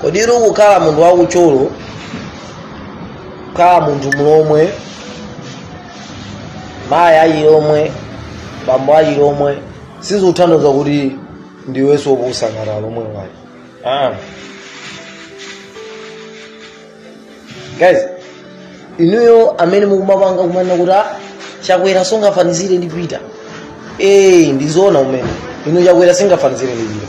kodi iri kukhala munthu wakuthyolo kukhala munthu mulomwe mayi achilomwe bambo achilomwe sizikutanthauza kuti ndiwenso opusa ngati alomwe ayi ah. guys inuyo amene mukumapanga kumanena kuti "Ah, chakwera sungafanizire ndi peter ee ndizoona kumene inu chakwera sungafanizire ndi peter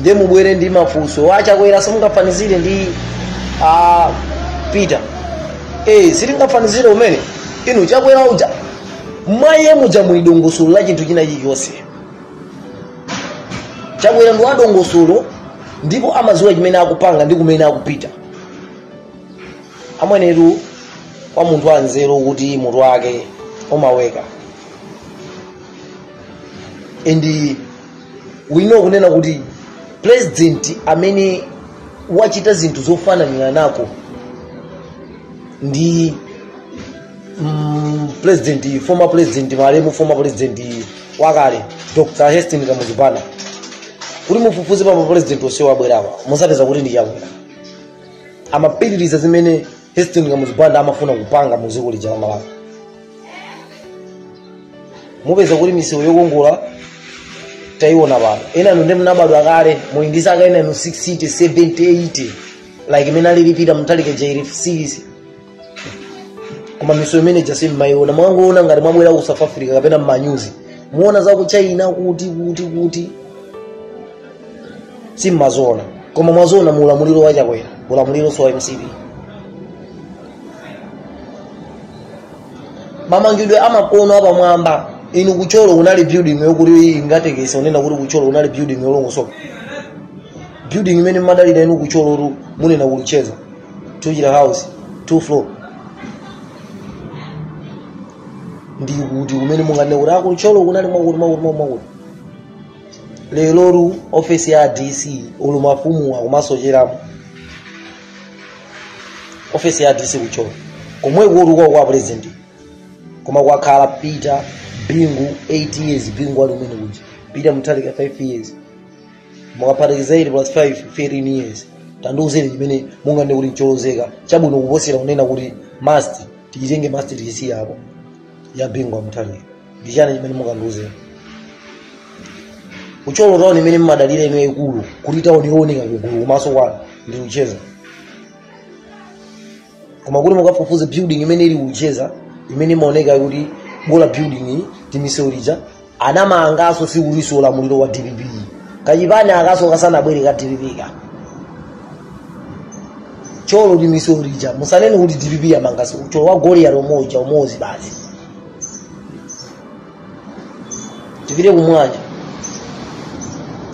nde mubwere ndi mafunso a chakwera simungafanizire ndi a peter eh sitingafanizire kumene inu chakwera uja mwa iye muja muli dongosolo la chinthu china chilichonse chakwera ndi wadongosolo ndipo amadziwa chimene akupanga ndi kumene akupita amwenetu kwa munthu wanzeru kuti mutu wake umaweka and uh, we know kunena kuti president amene wachita zinthu zofananira nako ndi mm, president former president malemu former president wakale dr hastings kamuzu banda kuti mufufuze pa mapresident onse abwerawa muzapeza kuti ndi chakwera amapitiriza zimene hastings kamuzu banda amafuna kupanga mu dziko lija la malawi mupeza kuti misewu yokongola tayiona pano enanu ndi mnabadwa kale muli ndi zaka enanu 60 70 80 like mmene alili peter mutharika jairi series koma misewu imene ija simmayiona mwangoona ngati mwabwera ku south africa kapena mmanyuzi muona za ku china kuti kuti kuti simmaziona koma mwaziona mu ulamuliro wa chakwera ulamulironso wa mcp mamangidwe amakono apamwamba inu kuthyolo kunali building yokuti ingatekesa kunena kuti kuthyolo kunali building yolongosoka building imene mmadalira inu kuthyolotu munena ku luchenza tuchita house two floor ndi kuti kumene munganene kuti a kuthyolo kunali mwakuti mwakuti mwakuti leroli ofesi ya dc ulu mafumu akumasocheramo ofesi ya dc kuthyolo komwekotu kwawo kwa president koma kwakhala peter bingu 8 years bingu ali kumene kuja peter mutharika 5 years mukaphatikiza 8 plus 5 13 years tandiuzeni chimene munganene kuti ncholozeka chabwino kuposera kunena kuti must tichitenge must tichisiyapo ya bingu wa mutharika ndi chani chimene mungandiuze ku thyolo tauni imene mmadalira inu yaikulu kuti tauni yooneka kugulu kumaso kwanu ndi luchenza koma kuti mukafufuze building imene ili ku luchenza imene imaoneka kuti bola building iyi timisewu tija anamanganso sikutinso ulamuliro wa dpp kachipani akanso kasanabwere ka dpp ka thyolo timisewu tija musanene kuti dpp yamanganso ku thyolo kwa goliyati umoja umozi basi tipite ku mulanje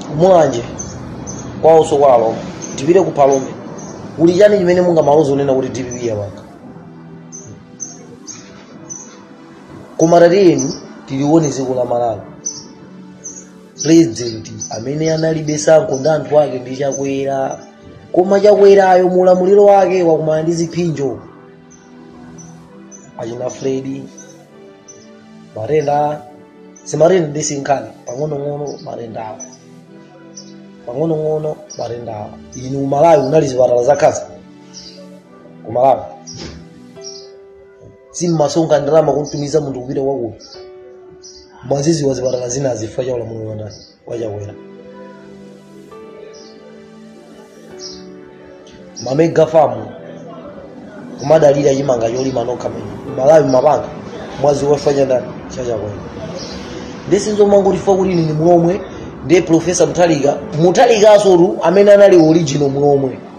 ku mulanje kwaonso kwa alomwe tipite ku phalombe kuli chani chimene mungamaloze kunena kuti dpp yapanga koma tatiyeni tilione dziko la malawi president amene analibe tsankho ndi anthu ake ndi chakwera koma chakwerayo mulamuliro wake wakumana ndi ziphinjo achina fredi matenda zimatenda ndi sinkhani pang'onong'ono matendawo pang'onong'ono matendawo inu kumalawi kunali zipatala za khansa kumalawi simmasonkha ndalama kumtumiza munthu kupita kwakuti mwaziziwa zipatala zina chifukwa cha ulamuliro wa ndani wachakwera mamega famu kumadalira chimanga cholima nokha mmene malawi mapanga mwaziwa chifukwa cha ndani cha chakwera ndi sizomangoti chifukwa kuti ine ndi mulomwe ndiye profesa mutharika mutharikanso tu amene anali original mulomwe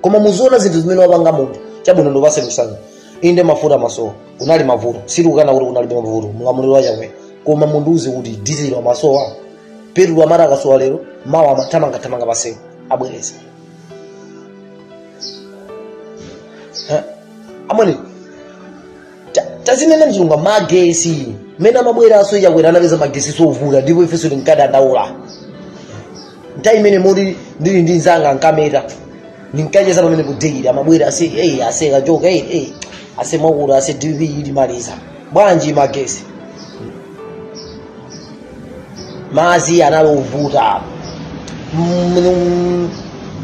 koma muziona zinthu zimene wapanga munthu chabwino ndipase kusanga inde mafuta amasowa kunali mavuto sitikukana kuti kunalibe mavuto mulamuliro wa chakwera koma mundiuze kuti dizilo amasowa petulo amati akasowa lero mawa amathamangathamanga pamsewu abweretsa Eh, amwene Ta- tazinena mzunga magesi mmene amabweranso a chakwera anapeza magesi ovuta ndipo ifenso tinkadandaula nthawi imene moti ndili ndi nzanga nkameta ndinkacheza pamene kudeira amabwera ase eyi ase kachoka eyi eyi ase mwakuti ase dv ilimaliza bwanji magesi mazi anali ovuta Mm,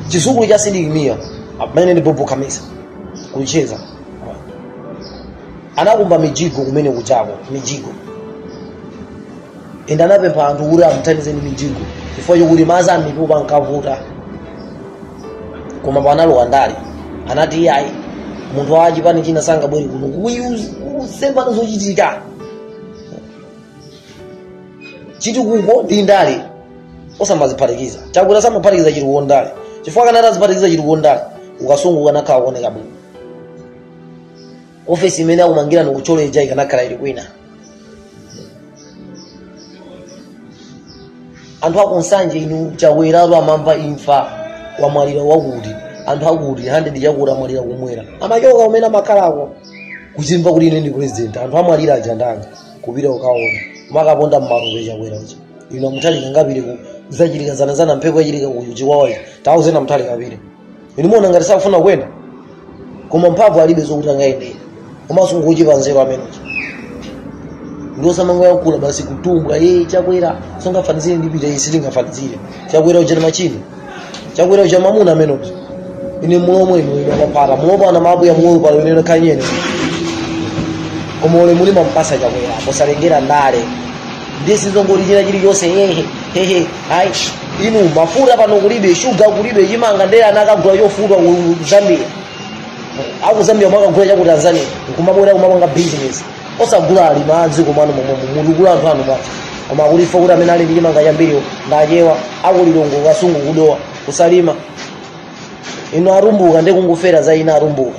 chizukulu cha sidik mia amene ndi bob khamisa ku luchenza anakumba mijigo kumene kujako mijigo ende anapempha anthu kuti amuthandize ndi mijigo chifukwa chokuti madzi a mipope ankavuta koma panalowa ndale anati iyayi munthu wa chipani china sangabwere kuno kusemphana zochitika chitukuko ndi ndale osamaziphatikiza chakwera samaphatikiza chitukuko ndale chifukwa akanati aziphatikiza chitukuko ndale kukasungu kukanakhala kuoneka bwino ofesi imene akumangira ndi ku college ija ikanakhala ili kwina anthu akunsanje inu Chakweratu amamva imfa wamwalira wakuti anthu akuti 100 chakuti amwalira kumwera amachoka kumene amakhalako kuzimva kuti ine ndi president anthu amwalira aja ndanga kupita kukaona amakaponda mmalupe chakwera uja inu Mutharika angapite ku zachitika zanazana mphepo yachitika ku Chikwawayi tauzeni Mutharika apite inu mukuona ngati sakufuna kuyenda koma mphamvu alibe zokuti angayendere komanso ngochepa nzeru ameneuja nde osamangoyankhula basi kutumbwa Chakwera sungafanizire ndi Peter ife si tingafanizire chakwera uja ndi machine chakwera uja ndi mamuna ameneuja ine mulomwe inu ine amapata mulomwe ana mabu ya mulomwe pano ine kanyene koma ule mulima mpasa chakwera posalengera ndale ndiye sizongoti china chilichonse hehe hehe ayi inu mafuta pano kulibe shuga kulibe chimanga ndiye anakagula chofutwa ku Zambia aku Zambia mwakagula cha ku Tanzania nkumabwera kumapanga business osagula alimi a dziko mommuno kugula anthu anu basi koma kudziwa kuti amene ali ndi chimanga chambiriwo ndi Achewa aku Lilongwe Kasungu ku Dowa ku Salima inu Atumbuka nde kungofera za eni Atumbuka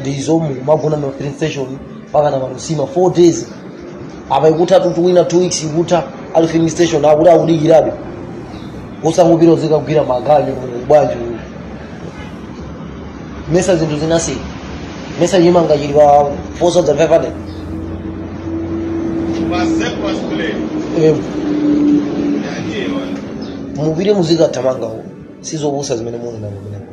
ndizo mumagona mma filling station mpakana ma 4 days apa ikuthatu wina 2 weeks ikutha ali pa filling station akuti akudikirabe osangopita kuzikagwira maganyu bwanji uyu mesa zinthu zinasiyana mesa chimanga chili pa 4500 Eh, mupite muzikathamanga uko si zopusa zimene muli nazo kumeneko